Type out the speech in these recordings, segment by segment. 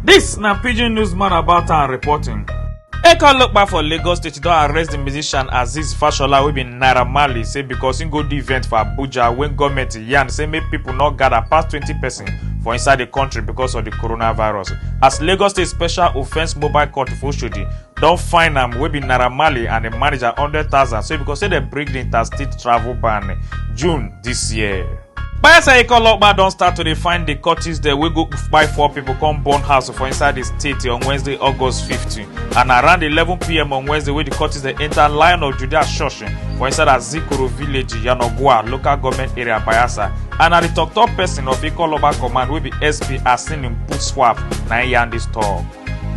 This na Pidgin Newsman about and reporting. Eka Lokpa for Lagos State don arrest the musician Aziz Fashola wey be Naira Marley say because im go the event for Abuja when government yarn say make people no gather pass 20 person for inside the country because of the coronavirus. As Lagos State Special Offence Mobile Court for Oshodi don fine am wey be naira marley and im manager hundred thousand say because say dem break di interstate travel ban june dis year. bayelsa eke olopa don start to dey find di cultists dem wey go kpai four pipo come burn house for inside di state on wednesday august fifteen and around eleven pm on wednesday wey di cultists dem enta lion of judea church for inside azikoro village yanagua local goment area bayelsa and na di tok-tok pesin of eke olopa command wey be sp asinin butswap na im yarn dis tok.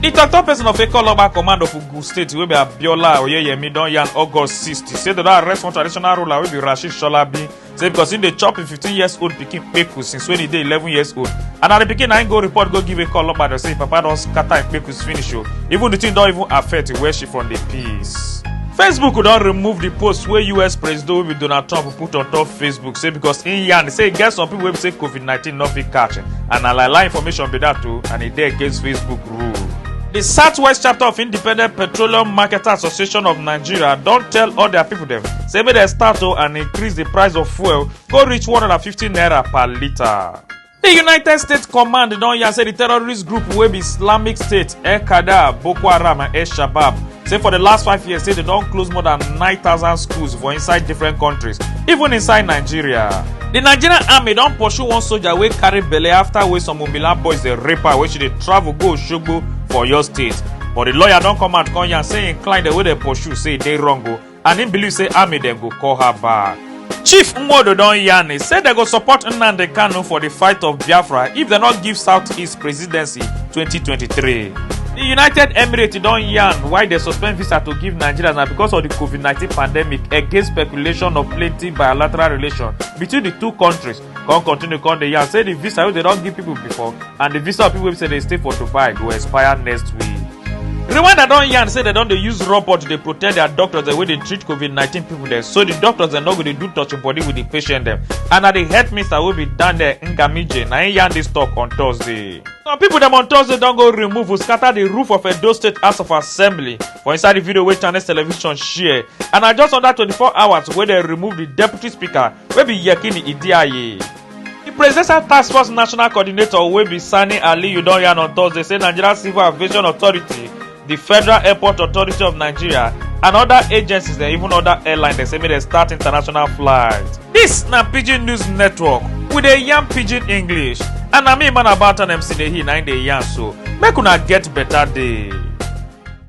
di tok-tok person of ekologba command of ogun state wey be abiola oyeyemi don yarn august 60 say dem don arrest one traditional ruler wey be rasheed sholabi say because im dey chop im 15 years old pikin kpeku since wen e dey 11 years old and na di pikin na im go report go give ekologba dem say im papa don scatter im kpekus finish o even di thing don even affect where she from dey peace. facebook don remove di post wey us president wey be donald trump put on top facebook say because im yarn say e get some pipo wey be say covid COVID-19 no fit catch and na lie lie information be dat o and e dey against Facebook rule. Di Southwest chapter of Independent Petroleum Marketer Association of Nigeria don tell all dia pipo dem say make dem start o and increase di price of fuel go reach 150 naira per litre. Di United States Command don yarn say di terrorist group wey be Islamic State, El-Qaeda, Boko Haram and El-Shabab say for di last five years say dem don close more than 9000 schools for inside different countries even inside nigeria di nigerian army don pursue one soldier wey carry belle afta wey some umbila boys dey rape her wey she dey travel go osogbo for oyo state but di lawyer don come out come yarn say im client wey dey pursue say e dey wrong o and im believe say army dem go call her back. chief nwodo don yarn e say dem go support nnamdi kanu for di fight of biafra if dem no give south east presidency 2023. di united emirates don yarn why dem suspend visa to give nigerians na because of di covid-19 pandemic against speculation of plenty bilateral relations between di two kontris come continue come dey yarn say di visa wey dem don give pipo before and di visa of pipo wey say dey stay for dubai go expire next week rwanda don yarn say dem don dey use robot to dey protect their doctors dem wey dey treat covid-19 pipo dem so di doctors dem no go dey do touching body with di patient dem and na di health minister wey be daniel ngamije na im yarn dis tok on thursday some pipo dem on thursday don go remove scatter di roof of edo state house of assembly for inside di video wey channels television share and na just under 24 hours wey dem remove di deputy speaker wey be yekini idiaye di presidential task force national coordinator wey be sani aliyu don yarn on thursday say nigeria civil aviation authority di federal airport authority of nigeria and oda agencies dem even oda airlines dem say make dem start international flights dis na pidgin news network we dey yarn pidgin english and na me man about an mc dey he na im dey yarn so make una get beta day.